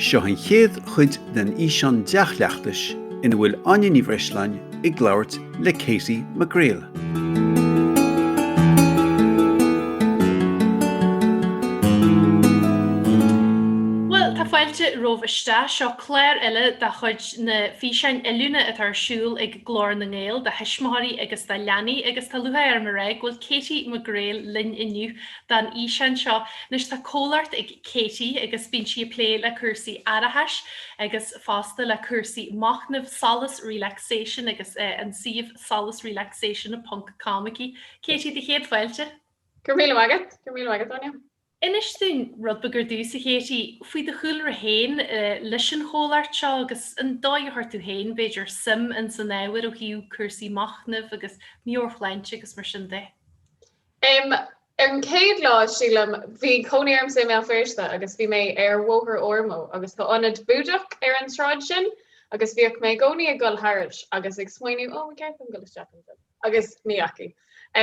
Seo an chéad chuid den fhíseán dea-chleachtais ina bhfuil Áine Ní Bhreisleáin ag labhairt le Katie McGreal. Fáilte romhaibh isteach, seo clár eile de chuid na físeáin oiliúna atá ar siúl ag Glór na nGael do thuismitheoirí agus do leanaí agus tá lúcháir orm a rá go bhfuil Katie McGreal linn inniu don fhíseán seo. Anois tá comhlacht ag Katie agus bíonn sí ag plé le cúrsaí aireachais agus fosta le cúrsaí machnaimh Solas Relaxation agus an suíomh solasrelaxation ponc com aici. Katie, do chéad fáilte! Go raibh maith agat, go raibh maith agat Áine. Inis dúinn rud beag ar dtús, a Katie, faoi do chúlra féin leis an chomhlacht seo agus an dóigh a chuir tú féin, b'fhéidir, suim in san ábhar ó thaobh cúrsaí machnaimh agus meabhairshláinte agus mar sin de. Am Ar an chéad lá, sílim, bhí cónaí ormsa i mBéal Feirste agus bhí mé ar Bhóthar Ormeau agus tá ionad Búdach ar an tsráid sin agus bhíodh mé i gcónaí ag gabháil thairis agus ag smaoineamh ó, ba cheart dom dul isteach ansin agus ní dheachaigh.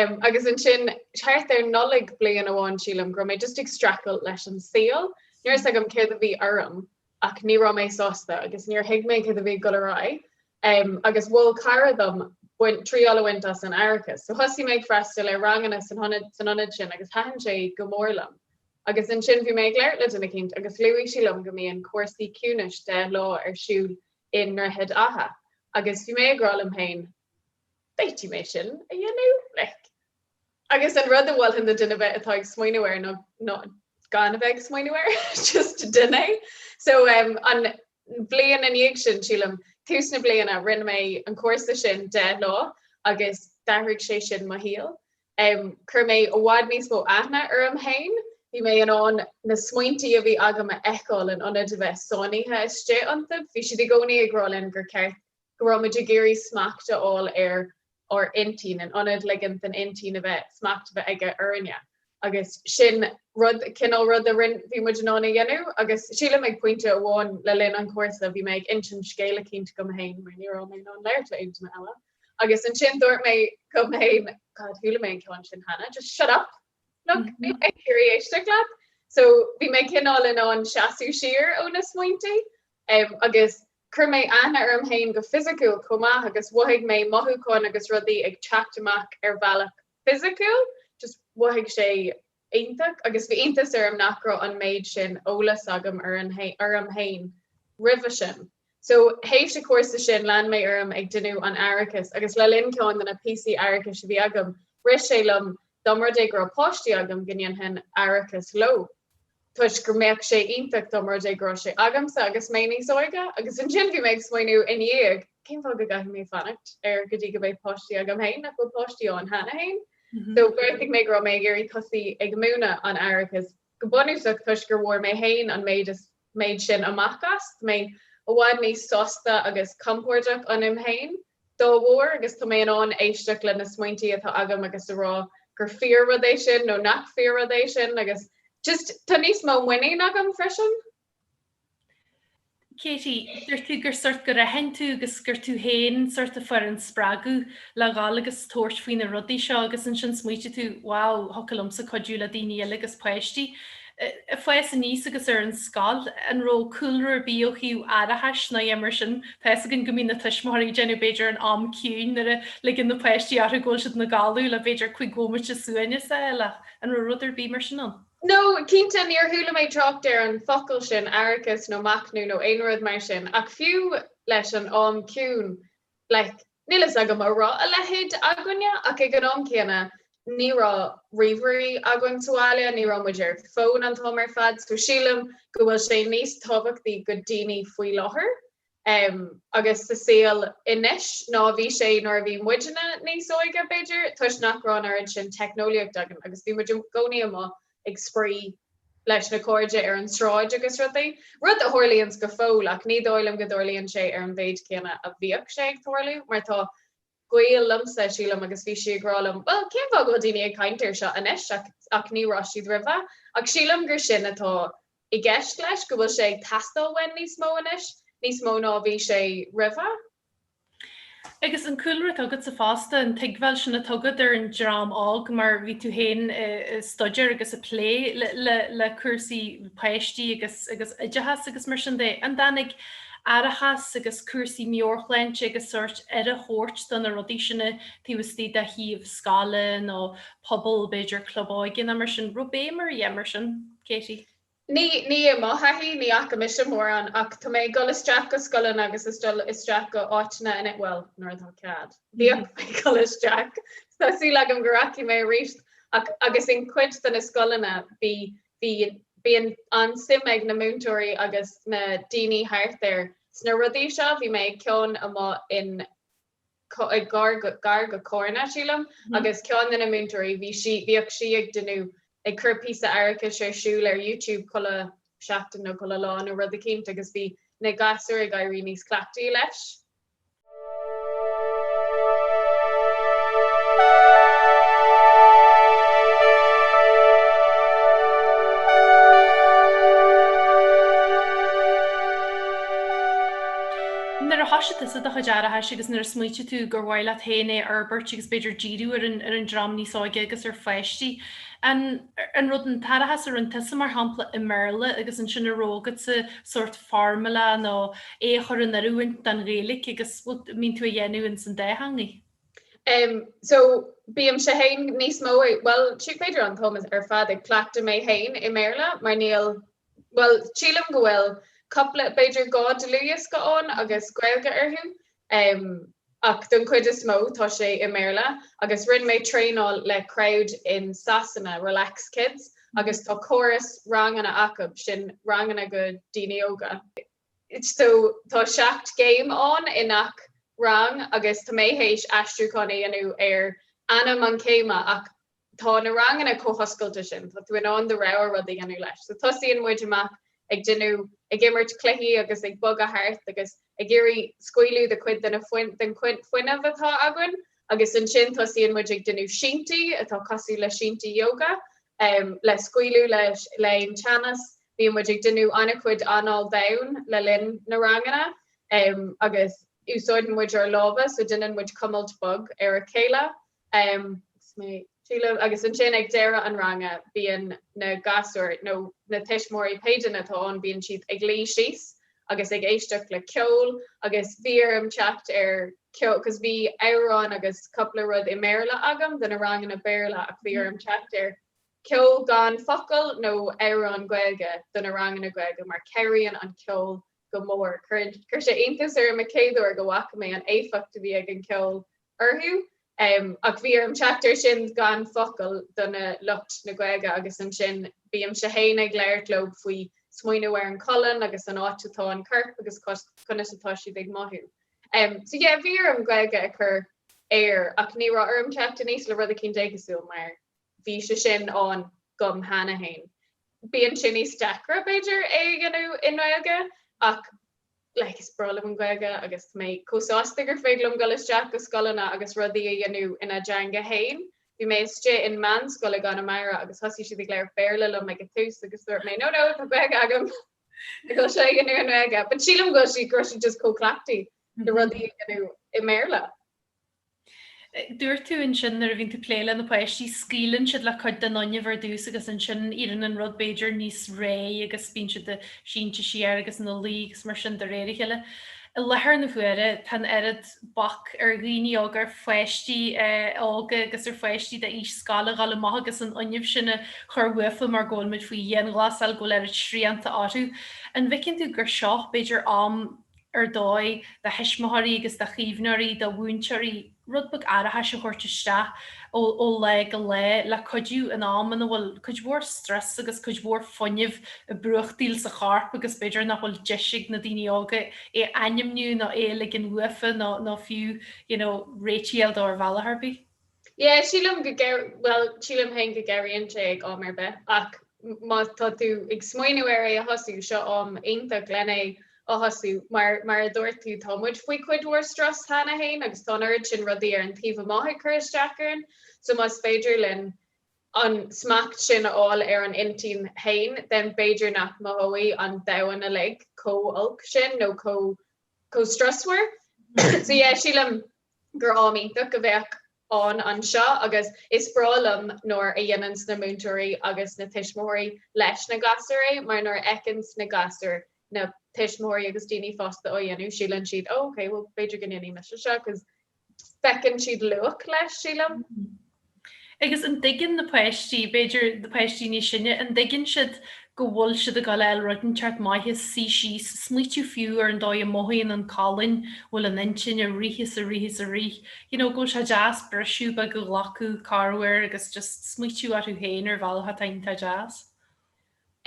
Am Agus ansin thart ar Nollaig bliain amháin sílim go raibh mé just ag streachailt leis an saol, ní raibh a fhios agam céard a bhí orm ach ní raibh mé sásta agus níor thuig mé cad a bhí ag dul ar aghaidh agus mhol cara dom baint triail a bhaint as an aireachas. So thosaigh mé ag freastal ar ranganna san ionad sin agus thaitin sé go mór liom. Agus ansin bhí mé ag labhairt le duine éicint agus luaigh sí liom go mbíonn cúrsaí ciúnais deich lá ar siúl i nDroichead Átha agus bhí mé ag rá liom féin An bhféadfaidh mé sin a dhéanamh, like. Agus an rud a mholfainn do dhuine ar bith atá ag smaoineamh air ná ná gan a bheith ag smaoineamh air, just déan é. So um an bhliain ina dhiaidh sin, sílim, tús na bliana, rinne mé an cúrsa sin deich lá agus d'athraigh sé sin mo shaol. Um chuir mé i bhfad níos mó aithne orm féin, bhí mé in ann na smaointí a bhí agam a fheiceáil in ionad a bheith sáinnithe istigh iontu. Bhí siad i gcónaí ag rá linn gur ceart go raibh muid ag iarraidh smacht a fháil ar ár intinn, in ionad ligint don intinn a bheith, smacht a bheith aige orainne. Agus sin rud, cineál rud a rin, bhí muid in ann a dhéanamh. Agus sílim ag pointe amháin le linn an chúrsa bhí mé ag insint scéal eicínt dom fhéin, mar ní raibh mé in ann labhairt le aon duine eile. Agus ansin dúirt mé liom fhéin, God, chuala mé an ceann sin cheana, just shut up! Like, níl mé ag iarraidh éisteacht leat! So bhí mé cineál in ann seasamh siar ó na smaointí. Agus chuir mé aithne orm féin go fisiciúil chomh maith agus mhothaigh mé mothúcháin agus rudaí ag teacht amach ar bhealach fisiciúil, just mhothaigh sé iontach agus bhí iontas orm nach raibh an méid sin eolas agam orm féin roimhe sin. So tar éis an chúrsa sin lean mé orm ag déanamh an aireachais agus le linn ceann de na píosaí aireachais a bhí agam rith sé liom dá mba rud é go raibh páistí agam go ndéanfainn aireachas leo. toisc go mbeadh sé iontach dá mba rud é go raibh sé agamsa agus mé níos óige agus ansin bhí mé ag smaoineamh ina dhiaidh cén fáth go gcaithfidh mé fanacht er go dtí go mbeidh páistí agam féin, nach bhfuil páistí ann cheana féin. So bheartaigh mé go raibh mé ag iarraidh tosú ag múineadh an aireachais go bunúsach toisc gur bhfuair mé féin an méid is méid sin amach as. Tá mé i bhfad níos sásta agus compordach ionam féin. dá bharr agus tá mé in ann éisteacht leis na smaointí atá agam agus a rá gur fíor rud é sin nó nach fíor rud é sin agus just tá níos mó muinín agam freisin. Katie, dúirt tú gur sort go raibh ann tú agus gur tú féin sort a fuair an spreagadh le dhul agus tabhairt faoi na rudaí seo agus ansin smaointigh tú wow, thiocfadh liomsa cuidiú le daoine eile agus páistí. ag fás aníos agus ar an scoil, an raibh cúlra ar bith ó thaobh aireachais ná a dhath mar sin? Tá fhios againn go mbíonn na tuismitheoirí ag déanamh b'fhéidir an am ciúin nuair a ligeann na páistí orthu go bhfuil siad ina gcodladh le b'fhéidir cúig bhomaite suain is araile ach an raibh rud ar bith mar sin ann? No, cinnte níor chuala mé trácht ar an bhfocal sin aireachas nó machnamh nó aon rud mar sin ach fiú leis an am ciúin, like, Níl fhios agam an raibh a leithéid againne ach ag an am céanna ní raibh ríomhairí againn sa bhaile, ní raibh muid ar fón an t-am ar fad so sílim go bhfuil sé níos tábhachtaí do dhaoine faoi láthair em agus sa saol anois ná a bhí sé nuair a bhí muidne níos óige b'fhéidir toisc nach raibh an oiread sin teicneolaíocht againn agus bhí muid i gcónaí amuigh ag spraoi leis na cairde ar an tsráid agus rudaí, rud a tharlaíonns go fóill ach ní dóigh liom go dtarlaíonn sé ar an mhéid céanna a bhíodh sé ag tarlú mar tá gaol liomsa, sílim, agus bhí sí ag rá liom, bhuel, cén fáth go bhfuil daoine ag caint air seo anois ach ní raibh siad roimhe? Ach sílim gur sin atá i gceist leis, go bhfuil sé ag teastáil uainn níos mó anois, níos mó ná a bhí sé roimhe. Agus an cúlra atá agatsa fosta, an tuigbheáil sin atá agat ar an dream óg mar bhí tú féin ag staidéar agus ag plé le cúrsaí páistí agus oideachas agus mar sin de, an dtáinig aireachas agus cúrsaí meabhairshláinte agus sórt aire a thabhairt do na rudaí sin taobh istigh de shuíomh scoile nó pobail, b'fhéidir club óige nó mar sin, raibh béim ar a dhath mar sin, Katie? Ní, níl i mo thaithí, ní fhaca mise mórán ach tá mé ag dul isteach go scoileanna agus ag dul isteach go áiteanna in, bhuel, nuair atá cead, bhíodh mé ag dul isteach, tá súil agam go rachaidh mé aríst ach, agus in cuid de na scoileanna bhí, bhí, bíonn an-suim ag na múinteoirí agus na daoine thart air sna rudaí seo, bhí mé ag ceann amuigh in, gar do Carna, sílim, agus ceann de na múinteoirí, bhí sí, bhíodh sí ag deineadh, ag cur píosa aireachais ar siúl ar YouTube chuile sheachtain nó chuile lá nó rud eicínt agus bhí na gasúir ag éirí níos cleachtaí leis. Nuair a thosaigh tusa do chuid aireachais agus nuair a smaoitigh tú gur mhaith leat féin é a fhorbairt agus b'fhéidir díriú ar an ar an dream níos óige agus ar pháistí, an, an raibh an t-aireachas a rinne tusa mar shampla i mBéarla agus ansin a raibh agatsa sórt formula nó é a chur in oiriúint don Ghaeilge agus an mbíonn tú á dhéanamh insan dá theangaidh? Em so bímse féin níos mó bhuel is é b'fhéidir an t-am ar fad ag cleachtadh mé féin i mBéarla mar níl bhuel, sílim go bhfuil cupla, b'fhéidir dhá dlúthdhiosca ann agus Gaeilge orthu, ach don chuid is mó tá sé i mBéarla agus rinne mé traenáil le crowd in Sasana, Relax Kids, agus tá córas ranganna acu, sin ranganna go daoine óga, so tá seacht gcéim ann i ngach rang agus tá mé théis aistriúchán a dhéanamh ar ainm an chéime ach Tá na ranganna chomh hoscailte sin, tá tú in ann do rogha rud a dhéanamh leis. So tosaíonn muid amach ag deineadh, ag imirt cluichí agus ag bogadh thart agus ag iarraidh scaoileadh le cuid den fuinneamh atá againn agus ansin tosaíonn muid ag deineadh sínti atá cosúil le sínti yoga le scaoileadh le aon teannas. Bíonn muid ag deineadh an-chuid anáil domhain le linn na ranganna agus úsáideann muid ár lámha so deineann muid cuimilt bog ar a chéile. Agus ansin ag deireadh an ranga bíonn na gasúir, nó na tuismitheoirí pé dream atá ann, bíonn siad ag luí síos agus ag éisteacht le ceol agus bhí orm teacht ar cos bhí amhráin agus cúpla rud i mBéarla agam do na ranganna Béarla ach bhí orm teacht ar ceol gan focal nó amhráin Gaeilge do na ranganna Gaeilge mar cabhraíonn an ceol go mór. Chuir sé iontas orm an chéad uair go bhfaca mé an éifeacht a bhí ag an ceol orthu, ach bhí orm teacht air sin gan focal do na lucht na Gaeilge agus ansin bímse féin ag labhairt leo faoi smaoineamh ar an cholainn agus an áit atá an corp agus conas atá siad ag mothú. So yeah, bhí orm Gaeilge a chur air ach ní raibh orm teacht aníos le rud eicínt éagsúil mar bhí sé sin ann dhom cheana fhéin. Bíonn sé níos deacra b'fhéidir é a dhéanamh i nGaeilge ach Like, is breá liom an Ghaeilge agus tá mé chomh sásta gur féidir liom dul isteach go scoileanna agus rudaí a dhéanamh ina dteanga féin. Bhí mé istigh in meánscoil i gConamara agus thosaigh siad ag labhairt Béarla liom ag an tús agus dúirt mé No, no, tá Gaeilge agam ag dul é a dhéanamh i nGaeilge. But sílim go bhfuil siad go raibh siad just chomh cleachtaithe le rudaí a dhéanamh i mBéarla. Dúirt tú ansin nuair a bhíonn tú ag plé le na páistí scaoileann siad le cuid den fhuinneamh ar dtús agus ansin éiríonn an rud b'fhéidir níos réidh agus bíonn siad sínte siar agus ina luí agus mar sin de réir a chéile. I láthair na huaire tá an oiread bac ar dhaoine óga, ar pháistí óga agus ar pháistí de aois scoile a ghabháil amach agus an fhuinneamh sin a chur uathu mar go bhfuil muid faoi dhianghlasáil go bhfuil oiread srianta orthu. An bhfeiceann tú gur seo b'fhéidir am ar dóigh do thuismitheoirí agus do chaomhnóirí, do mhúinteoirí rud beag aireachais a thabhairt isteach ó lá go lá le cuidiú in am ina bhfuil cuid mhór stress agus cuid mhór fuinnimh ag brúchtaíl sa chorp agus b'fhéidir nach bhfuil deis ag na daoine óga é a ainmniú nó é a ligint uathu nó fiú you know relateáil dó ar bhealach ar bith. Yeah sílim go n-oir- bhuel sílim féin go n-oireann sé ag am ar bith ach má tá tú ag smaoineamh ar é a thosú seo am iontach lena a thosú mar mar a dúirt tú tá muid faoi cuid mhór strus cheana féin agus tá an oiread sin rudaí ar an taobh amuigh ag cur isteach orainn so más féidir linn an smacht sin a fháil ar an intinn féin then b'fhéidir nach mothóidh an domhan uilig chomh holc sin nó chomh chomh strusmhar. So yeah, sílim gur am iontach a bheadh ann anseo agus is breá liom nuair a dhéananns na múinteoirí agus na tuismitheoirí leis na gasúir é mar nuair a fheiceanns na gasúir na tuismitheoirí agus daoine fásta á dhéanamh síleann siad oh ok well b'fhéidir go ndéanfaidh mise seo cos feiceann siad luach leis, sílim. Agus an dtuigeann na páistí, b'fhéidir na páistí níos sine, an dtuigeann siad go bhfuil siad ag fháil roinnt ceart maith is suí síos, smaoitiú fiú ar an dóigh a mothaíonn an colainn bhfuil an intinn ar rith is ar rith is ar rith, you know, go bhfuil sé deas briseadh beag a ghlacadh, corr uair, agus just smaoitiú orthu féin ar bhealach atá iontach deas.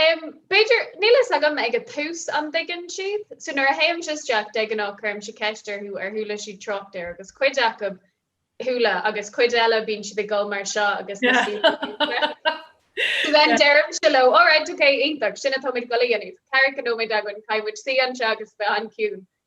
Umm, b'fhéidir, níl a fhios agam, ag a tús an dtuigeann siad? So nuair a théimse isteach de ghnáth cuirimse ceist orthu ar chuala siad trácht air agus cuid acu chuala agus cuid eile bíonn siad ag gol mar seo agus níl a fhios. So then deirimse leo alright ok iontach sin atá muid ag gol a dhéanamh. Ceathracha nóiméad againn caithfidh muid suí anseo agus bheith an-chiúin.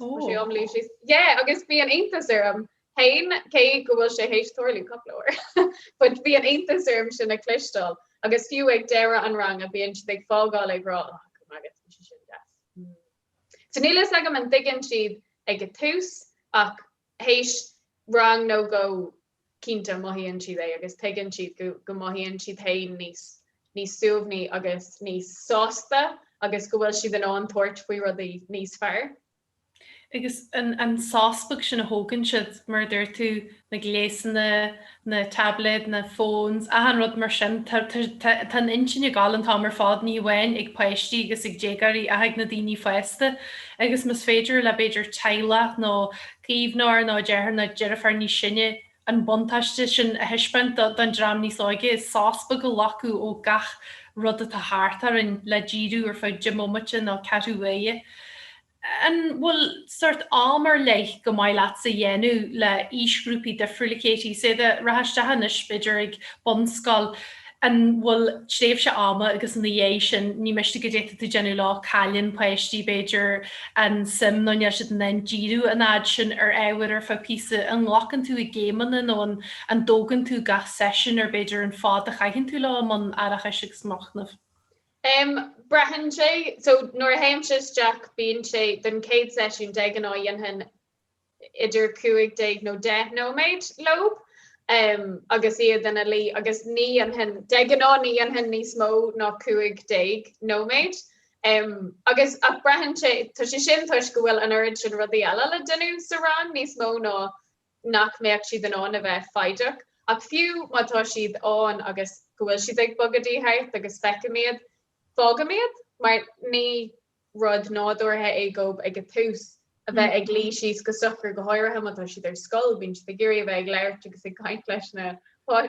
sé an bhfuil a fhios agat yeah agus bhí an-iontas orm féin cé go bhfuil sé théis tarlú cúpla uair ach bhí an-iontas orm sin a cloisteáil agus fiú ag deireadh an ranga bíonn siad ag fágáil ag rá ah go raibh maith agat bhí sé sin deas. So níl fhios agam an dtuigeann siad ag a tús ach théis rang nó dhó cinnte mothaíonn siad é agus tuigeann siad go mothaíonn siad féin níos suaimhní agus níos sásta agus go bhfuil siad in ann tabhairt faoi rudaí níos fearr. Agus an sos beag sin a thógann siad, mar a dúirt tú, na gléasanna, na taibléid, na phones, achan rud mar sin, tá an intinn ag dul an t-am ar fad ní amháin ag páistí agus ag déagáirí ach ag na daoine fásta. Agus más féidir le b'fhéidir teaghlach nó caomhnóir nó deartháir nó deirfiúr níos sine an buntáiste sin a thaispeáint don dream níos óige, sos beag a ghlacadh ó gach rud atá thart orainn le díriú ar feadh deich mbomaite nó ceathrú uaire. An bhfuil sórt am ar leith gur maith leatsa a dhéanamh le aoisghrúpaí difriúla, Katie? Má théann tú isteach anois b'fhéidir ag bunscoil, an bhfuil tréimhse ama agus ina dhiaidh sin níl mé ag rá go dtiocfadh tú déanamh leo, cailleann páistí b'fhéidir an suim nó níl siad in ann díriú an fhad sin ar ábhar ar feadh píosa. An nglacann tú é i gcéimeanna nó an an dtógann tú gach seisiún ar b'fhéidir an fad a chaitheann tú leo i mbun aireachais agus machnaimh? Em braitheann sé, so nuair a théimse isteach bíonn sé don chéad seisiún de ghnáth dhéanfainn idir 15 nó 10 nóiméad leob agus iad ina luí agus ní dhéanfainn, de ghnáth ní dhéanfainn níos mó ná 15 nóiméad agus, ach braitheann sé, tá sé sin toisc go bhfuil an oiread sin rudaí eile le déanamh sa rang níos mó ná nach mbeadh siad in ann a bheith foighdeach ach fiú má tá siad ann agus go bhfuil siad ag bogadaíl thart agus feicim iad, fágaim iad mar ní rud nádúrtha é dóibh ag a tús a bheith ag luí síos go socair, go háirithe má tá siad ar scoil, bíonn siad ag iarraidh a bheith ag labhairt agus ag caint leis na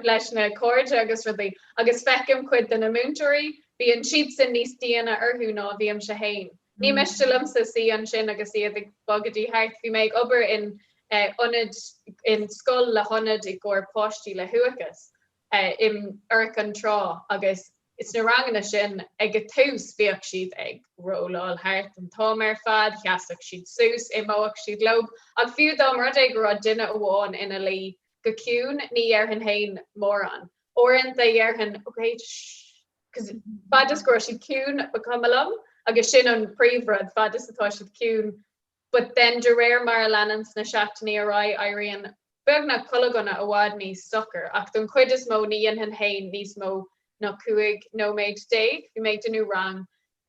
leis na cairde agus rudaí, agus feicim cuid de na múinteoirí, bíonn siadsan níos diana orthu ná a bhímse féin. Ní miste liomsa suí ansin agus iad ag bogadaíl thart. Bhí mé ag obair in ionad, in scoil le hionad i gcomhair páistí le huathachas, in Ard an Rátha agus sna ranganna sin ag a tús bhíodh siad ag rolláil thart an t-am ar fad, sheasfadh siad suas, imeodh siad leo ach fiú dá mba rud é go raibh duine amháin ina luí go ciúin ní dhéarfainn fhéin mórán, uaireanta dhéarfainn ok shh, fad is go raibh siad ciúin ba chuma liom agus sin an príomhrud, fad is atá siad ciúin but then de réir mar a leanann na seachtainí ar aghaidh éiríonn beagnach chuile dhuine i bhfad níos socair, ach don chuid is mó ní dhéanfainn féin níos mó ná cúig nóiméad déag. Bhí mé ag déanamh rang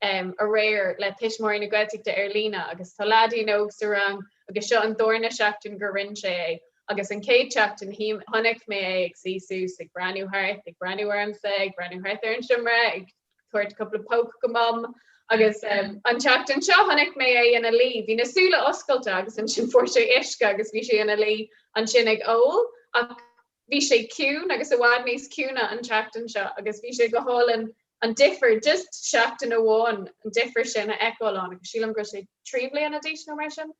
aréir le tuismitheoirí na Gaeltachta ar líne agus tá leaidín óg sa rang agus seo an darna seachtain go rinne sé é agus an chéad seachtain chonaic mé é ag suí suas, ag breathnú thart, ag breathnú ormsa, ag breathnú thart ar an seomra, ag. tabhairt cúpla póc go Mam agus an tseachtain seo chonaic mé é ina luí. Bhí na súile oscailte agus ansin fuair sé uisce agus bhí sé ina luí ansin ag ól ach bhí sé ciúin agus i bhfad níos ciúine an tseachtain seo agus bhí sé go hálainn an difear just seachtain amháin an difear sin a fheiceáil agus sílim go raibh sé trí bliana d'aois nó mar sin.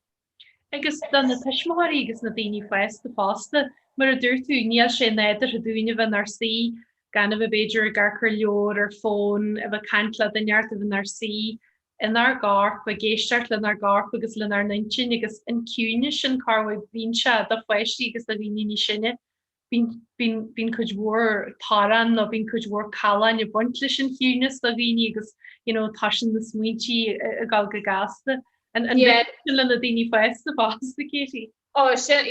Agus do na tuismitheoirí agus na daoine fásta fosta, mar a dúirt tú, níl sé nádúrtha dúinn a bheith inár suí, gan a bheith b'fhéidir ag amharc ar leabhar, ar fón, a bheith ag caint le duine, a bheith inár suí, inár gcorp, ag éisteacht lenár gcorp agus lenár n-intinn agus an ciúnas sin cad é mar, bíonn sé do pháistí agus do dhaoine níos sine. Bíonn cuid mhór tormáin nó bíonn cuid mhór calláin ag baint leis an chiúnas do dhaoine agus you know tá sna smaointí ag dul go gasta. An bhfuil sin le na daoine fásta fosta Katie? Ó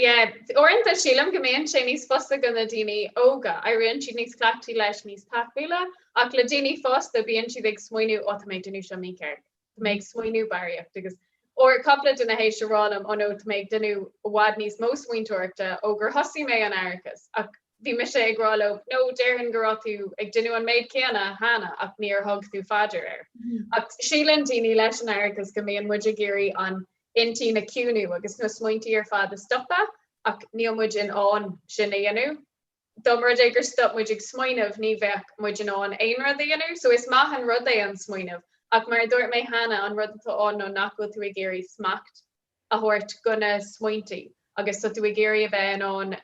yeah. Uaireanta sílim go mbíonn sé níos fusa do na daoine óga, éiríonn siad níos cleachtaí leis, níos taithiúla, ach le daoine fásta bíonn siad ag smaoineamh 'ó tá mé ag déanamh seo mícheart. Tá mé ag smaoineamh barraíocht agus dúirt cupla duine liom ó nó tá mé ag déanamh i bhfad níos mó smaointeoireachta ó gur thosaigh mé an t-aireachas ach bhí mise ag rá leo nó déarfainn go raibh tú ag déanamh an méid céanna cheana ach níor thug tú faoi deara é. Ach síleann daoine leis an aireachas go mbíonn muid ag iarraidh an intinn a chiúnú agus na smaointí ar fad a stopadh ach níl muid in ann sin a dhéanamh. dá mba rud é gur stop muid ag smaoineamh ní bheadh muid in ann aon rud a dhéanamh. So is maith an rud é an smaoineamh ach mar a dúirt mé cheana an rud atá ann nó nach bhfuil tú ag iarraidh smacht a thabhairt go na smaointí agus tá tú ag iarraidh a bheith in ann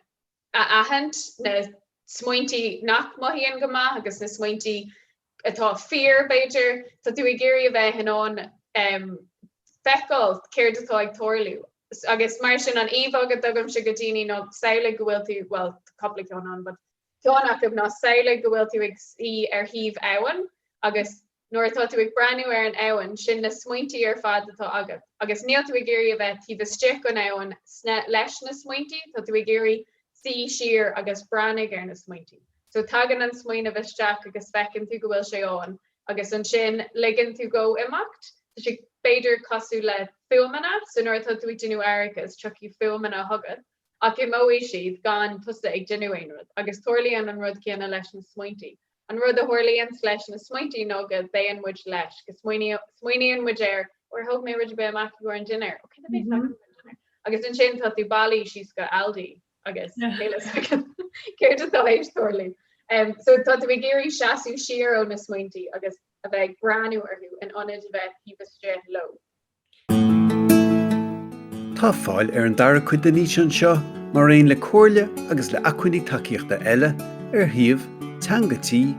a aithint na smaointí nach mothaíonn go maith agus na smaointí atá fíor, b'fhéidir, tá tú ag iarraidh a bheith in ann feiceáil céard atá ag tarlú agus mar sin an íomhá a thugaimse go daoine ná samhlaigh go bhfuil tú, bhuel, tá cupla ceann ann, but ceann acu ná samhlaigh go bhfuil tú ag suí ar thaobh abhann agus nuair atá tú ag breathnú ar an abhainn, sin na smaointí ar fad atá agat agus níl tú ag iarraidh a bheith taobh istigh den abhainn leis na smaointí, tá tú ag iarraidh suí siar agus breathnú ar na smaointí. So tagann an smaoineamh isteach agus feiceann tú go bhfuil sé ann agus ansin ligeann tú dhó imeacht. Tá sé b'fhéidir cosúil le fuaimeanna, so nuair atá tú ag déanamh aireachais tiocfaidh fuaimeanna chugat ach imeoidh siad gan tusa ag déanamh aon rud agus tarlaíonn an rud céanna leis na smaointí. An rud a tharlaíonns leis na smaointí nó go dtéann muid leis, go smaoiníonn muid air, ó ar thóg mé rud ar bith amach i gcomhair an dinnéir, ó cad a bhéas agam i gcomhair an dinnéir? Agus ansin tá tú bailithe síos go Aldi agus níl a fhios agam céard atá tar éis tarlú. So tá tú ag iarraidh seasamh siar ó na smaointí agus a bheith ag breathnú orthu in ionad a bheith taobh istigh leo. Tá fáil ar an dara cuid den fhíseán seo mar aon le comhairle agus le acmhainní tacaíochta eile ar shuíomh teangatii.ie.